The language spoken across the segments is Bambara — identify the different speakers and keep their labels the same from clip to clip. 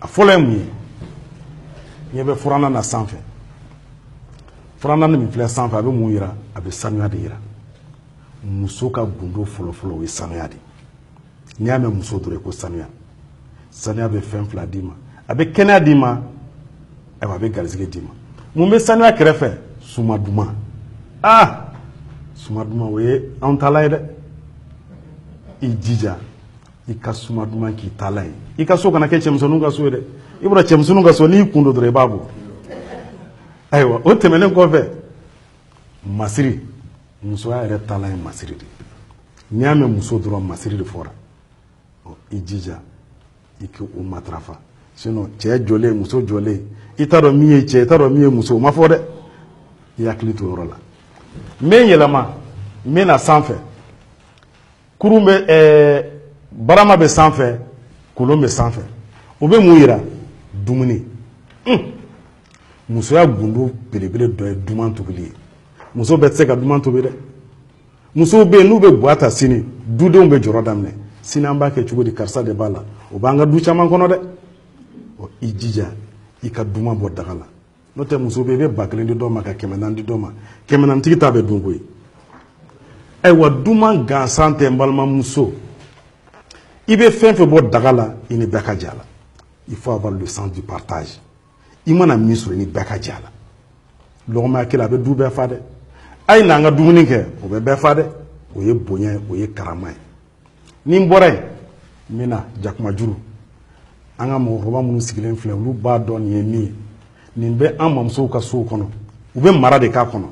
Speaker 1: a fɔlɔ ye mun ye ɲɛ bɛ furannan na sanfɛ furannan min filɛ sanfɛ a bɛ mun yira a bɛ sanuya de yira muso ka gundo fɔlɔfɔlɔ o ye sanuya de n'i y'a mɛn muso dɔrɔn ko sanuya sanuya bɛ fɛn fila d'i ma a bɛ kɛnɛya d'i ma ayiwa a bɛ garisɛgɛ d'i ma mun bɛ sanuya kɛrɛfɛ suma duman aa suma duman o ye anw taalan ye dɛ i jija i ka suma duman k'i taalan ye i ka so kana kɛ cɛmisɛnninw ka so ye dɛ i bɔra cɛmisɛnninw ka so n'i kun don dɔrɔn i b'a bɔ ayiwa o tɛmɛnen kɔfɛ masiri musoya yɛrɛ taalan ye masiri de n'i y'a mɛn muso dɔrɔn masiri de fɔra i jija i k'o matarafa sinon cɛ jɔlen muso jɔlen i t'a dɔn min ye cɛ i t'a dɔn min ye muso o ma fɔ dɛ i hakili to yɔrɔ la n bɛ n yɛlɛma n bɛ na sanfɛ kurun bɛ ɛɛ barama bɛ sanfɛ kolon bɛ sanfɛ o bɛ mun yira dumuni un musoya gundo belebele dɔ ye duman tobili ye muso bɛɛ tɛ se ka duman tobi dɛ musow bɛ yen n'u bɛ gwa ta sini dudenw bɛ jɔrɔ daminɛ sini an b'a kɛ cogo di karisa de b'a la o b'an ka du caman kɔnɔ dɛ ɔ i jija i ka duman bɔ daga la n'o tɛ muso bɛ i bɛ ba kelen di dɔ ma ka kɛmɛ naani di dɔ ma kɛmɛ naani tigi ta bɛ dun koyi ayiwa duman gansan tɛ n balimamuso i bɛ fɛn fɛn bɔ daga la i ni bɛɛ ka jɛ a la il faut avoir le sens du partage i mana min sɔrɔ i ni bɛɛ ka jɛ a la lɔgɔma ɲɛ kelen a bɛ du bɛɛ fa dɛ a ye n'an ka dumuni kɛ o bɛ bɛɛ fa dɛ o ye bonya ye o ye karama ye ni n bɔra yen n bɛ na jakumajuru an ka mɔgɔkɔrɔba minnu sigilen filɛ olu b'a dɔn nin ye min ye nin bɛ an mamusow ka sow kɔnɔ u bɛ mara de k'a kɔnɔ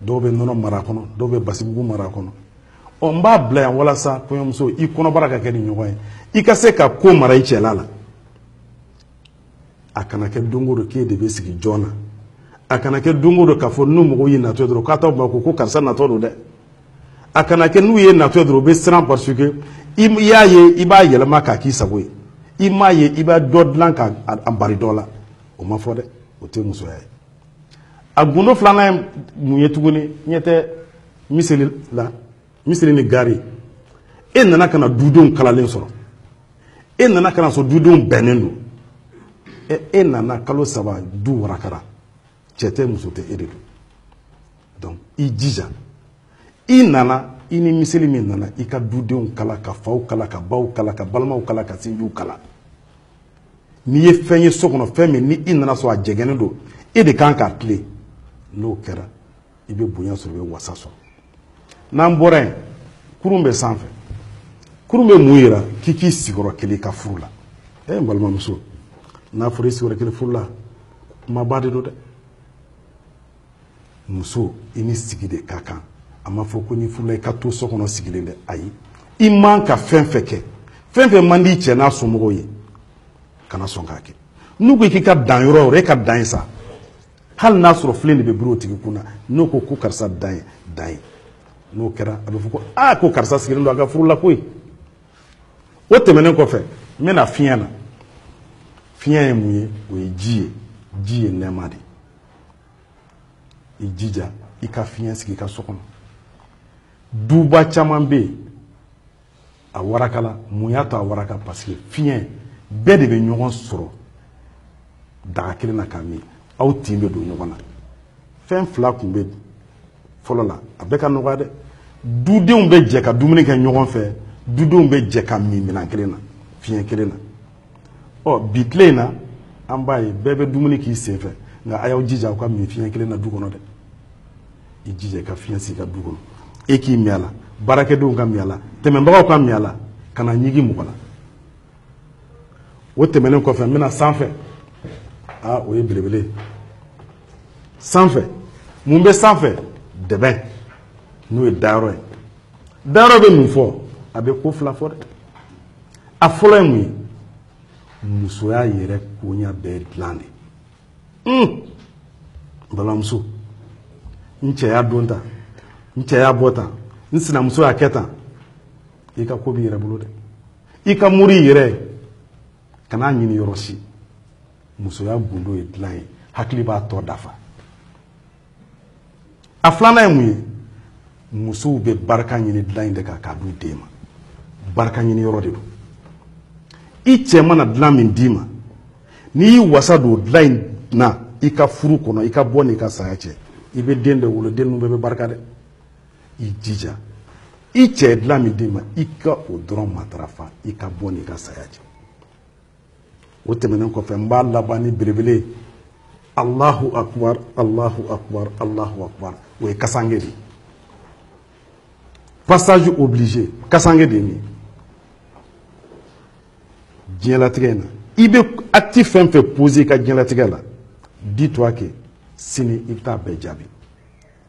Speaker 1: dɔw bɛ nɔnɔ mara kɔnɔ dɔw bɛ basimugu mara kɔnɔ ɔ n b'a bila yan walasa kɔɲɔmuso i kɔnɔbara ka kɛ nin ɲɔgɔn ye i ka se ka ko mara i cɛla la a kana kɛ don o don k'e de bɛ sigi jɔn na a kana kɛ don o don k'a fɔ ni mɔgɔw y'i natɔ ye dɔrɔn k'a t'aw makun ko karisa natɔ don dɛ a kana kɛ n'u y'i natɔ ye dɔrɔn u bɛ siran parce que i y'a ye i b'a yɛlɛma k'a k'i sago ye i m'a ye i b'a dɔ dilan ka a bari dɔ la o ma fɔ dɛ o tɛ musoya ye a gundo filanan ye mun ye tuguni ɲɛ tɛ miseli la miseli ni gari e nana ka na dudenw kalalen sɔrɔ e nana ka na sɔrɔ dudenw bɛnnen don e, e nana kalo saba du warakara cɛ tɛ muso tɛ e de don donc i jija i nana i ni miseli min nana i ka dudenw kala ka faw kala ka baw kala ka balimaw kala ka sinjiw kala n'i ye fɛn ye so kɔnɔ fɛn min ni i nana sɔrɔ a jɛgɛnnen don e de kan k'a tilen n'o kɛra i bɛ bonya sɔrɔ i bɛ wasa sɔrɔ n'an bɔra yen kurun bɛ sanfɛ kurun bɛ mun yira k'i k'i sigi yɔrɔ kelen i ka furu la e eh, n balimamuso n'a fɔra i sigi yɔrɔ kelen furu la kumaba de don dɛ muso i ni sigi de ka kan a ma fɔ ko n'i furula i ka to so kɔnɔ sigilen dɛ ayi i man ka fɛn fɛn kɛ fɛn fɛn man di cɛ n'a somɔgɔw ye kana sɔn k'a kɛ n'u ko k'i ka dan yɔrɔ o yɔrɔ e ka dan yen sa hali n'a sɔrɔ filen de bɛ biri o tigi kun na n'o ko ko karisa dan yen dan yen n'o kɛra a bɛ fɔ ko aa ko karisa sigilen don a ka furu la koyi o tɛmɛnen kɔfɛ n bɛna fiɲɛ na fiɲɛ ye mun ye o ye ji ye ji ye nɛɛma de ye i jija i ka fiɲɛ sigi i ka so kɔnɔ duba caman bɛ yen a warakala mun y'a to a waraka parce que fiɲɛ bɛɛ de bɛ ɲɔgɔn sɔrɔ daga kelen na k'a min aw tin bɛ don ɲɔgɔn na fɛn fila tun bɛ fɔlɔ la a bɛɛ ka nɔgɔya dɛ dudenw bɛ jɛ ka dumuni kɛ ɲɔgɔn fɛ dudenw bɛ jɛ ka min minɛn kelen na fiɲɛ kelen na ɔ bi tile in na an b'a ye bɛɛ bɛ dumuni k'i sen fɛ nka a y'aw jija aw ka min fiɲɛ kelen na du kɔnɔ dɛ i jija i ka fiɲɛ sigi i ka du kɔnɔ e k'i min a la baarakɛdenw ka min a la tɛmɛnbagaw ka min a la kana ɲigi mɔgɔ la o tɛmɛnen kɔfɛ n bɛna sanfɛ aa o ye belebele ye sanfɛ mun bɛ sanfɛ dɛbɛn n'o ye dayɔrɔ ye dayɔrɔ bɛ mun fɔ a bɛ ko fila fɔ dɛ a fɔlɔ ye mun ye musoya yɛrɛ koɲa bɛɛ dilan de balimamuso n cɛ y'a don tan n cɛ y'a bɔ tan n sinamuso y'a kɛ tan i ka ko b'i yɛrɛ bolo dɛ i ka mori y'i yɛrɛ ye kan'a ɲini yɔrɔ si musoya gundo ye dilan ye hakili b'a tɔ dafa a filanan ye mun ye musow bɛ barika ɲini dilan in de kan k'a d'u den ma barika ɲini yɔrɔ de don i cɛ mana dilan min d'i ma n'i y'i wasa don dilan in na i ka furu kɔnɔ i ka bɔ n'i ka saya cɛ i bɛ den de wolo den ninnu bɛɛ bɛ barika dɛ i jija i cɛ ye dilan min d'i ma i ka o dɔrɔn matarafa i ka bɔ n'i ka saya cɛ o tɛmɛnen kɔfɛ n b'a laban ni belebele alahu akubar alahu akubar alahu akubar o ye kasange de ye passage obligé kasange de ye nin ye diɲɛlatigɛ in na i bɛ acte fɛn fɛn poser i ka diɲɛlatigɛ la dis toi que sini i bɛ taa bɛɛ jaabi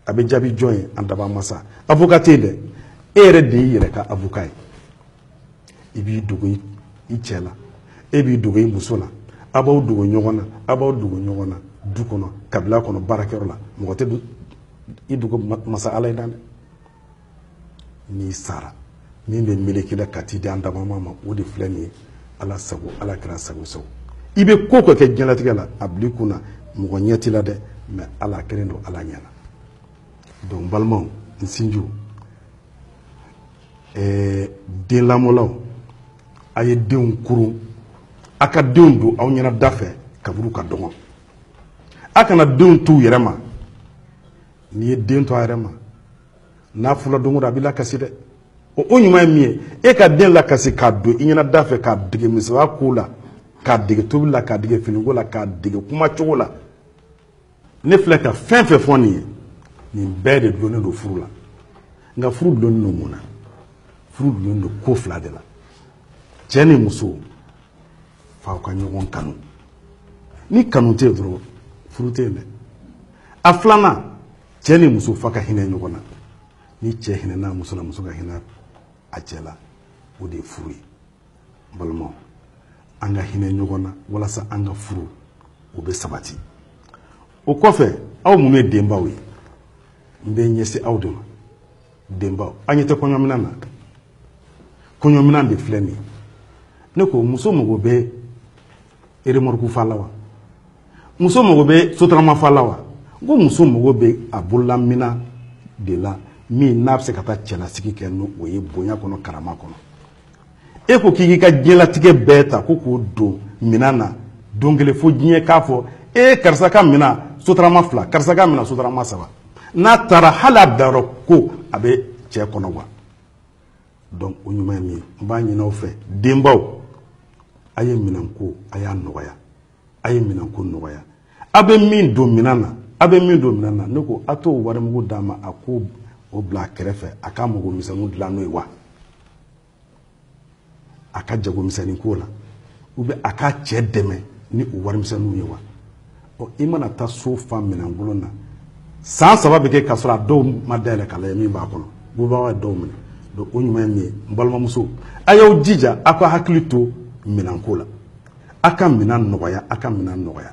Speaker 1: a bɛ jaabi jɔn ye an dabaa masa avocat tɛ yen dɛ e yɛrɛ de y'i yɛrɛ ka avocat ye i b'i dogo i cɛ la e b'i dogo i muso la a b'aw dogo ɲɔgɔn na a b'aw dogo ɲɔgɔn na du kɔnɔ kabila kɔnɔ baarakɛyɔrɔ la mɔgɔ tɛ i dogo masa ala y'i dan dɛ n'i sara min bɛ meleke i la ka t'i di an dabama ma o de filɛ nin ye ala sago ala kɛra sago sago i bɛ ko ka kɛ diɲɛlatigɛ la a b'i kun na mɔgɔ ɲɛ t'i la dɛ mɛ ala kelen don ala ɲɛna donc balimaw n sinjiw ɛɛ den lamɔlaw a ye denw koron a ka denw don aw ɲɛna da fɛ kaburu ka dɔgɔn a kana denw t'u yɛrɛ ma n'i ye den to a yɛrɛ ma n'a furula don a b'i lakasi dɛ o o ɲuman ye min ye e ka den lakasi k'a don i ɲɛna da fɛ k'a dege musoya ko la k'a dege tobi la k'a dege finiko la k'a dege kuma cogo la ne filɛ ka fɛn fɛn fɔ nin ye nin bɛɛ de dulonnen don furu la nka furu dulonnen don mun na furu dulonnen don ko fila de la cɛ ni muso f'aw ka ɲɔgɔn kanu ni kanu tɛ yen dɔrɔn furu tɛ yen dɛ a filanan cɛ ni muso f'aw ka hinɛ ɲɔgɔn na ni cɛ hinɛna muso la muso ka hinɛ a cɛ la o de ye furu ye balimaw an ka hinɛ ɲɔgɔn na walasa an ka furu o bɛ sabati o kɔfɛ aw minnu ye denbaw ye n bɛ ɲɛsin aw de ma denbaw aw ɲɛ tɛ kɔɲɔminan na kɔɲɔminan de filɛ nin ye ne ko muso mago bɛ eremɔruku fa la wa muso mago bɛ sotarama fa la wa n ko muso mago bɛ a bololaminan de la min n'a bɛ se ka taa cɛlasigi kɛ n'o ye bonya kɔnɔ karama kɔnɔ e ko k'i k'i ka diɲɛlatigɛ bɛɛ ta ko k'o don minan na don kelen fo diɲɛ k'a fɔ e karisa ka minan sotarama fila karisa ka minan sotarama saba n'a taara hali a bilayɔrɔ ko a bɛ cɛ kɔnɔ wa donc o ɲuman ye min ye n b'a ɲin'aw fɛ denbaw a ye minɛnko a y'a nɔgɔya a ye minɛnko nɔgɔya a bɛ min don minɛn na a bɛ min don minɛn na ne ko a t'o warimugu d'a ma a k'o bila a kɛrɛfɛ a ka mago misɛnninw dilan n'o ye wa a ka jago misɛnnin k'o la u bɛ a ka cɛ dɛmɛ ni o warimisɛnninw ye wa ɔ i mana taa so fa minɛn kolon na san saba bɛ kɛ k'a sɔrɔ a dɔw ma dayɛlɛ k'a lajɛ min b'a kɔnɔ bubaga ye dɔw minɛ donc o ɲuman ye min ye n balimamuso a y'aw jija aw k'aw hakili to minɛnko la aw ka minɛn nɔgɔya aw ka minɛn nɔgɔya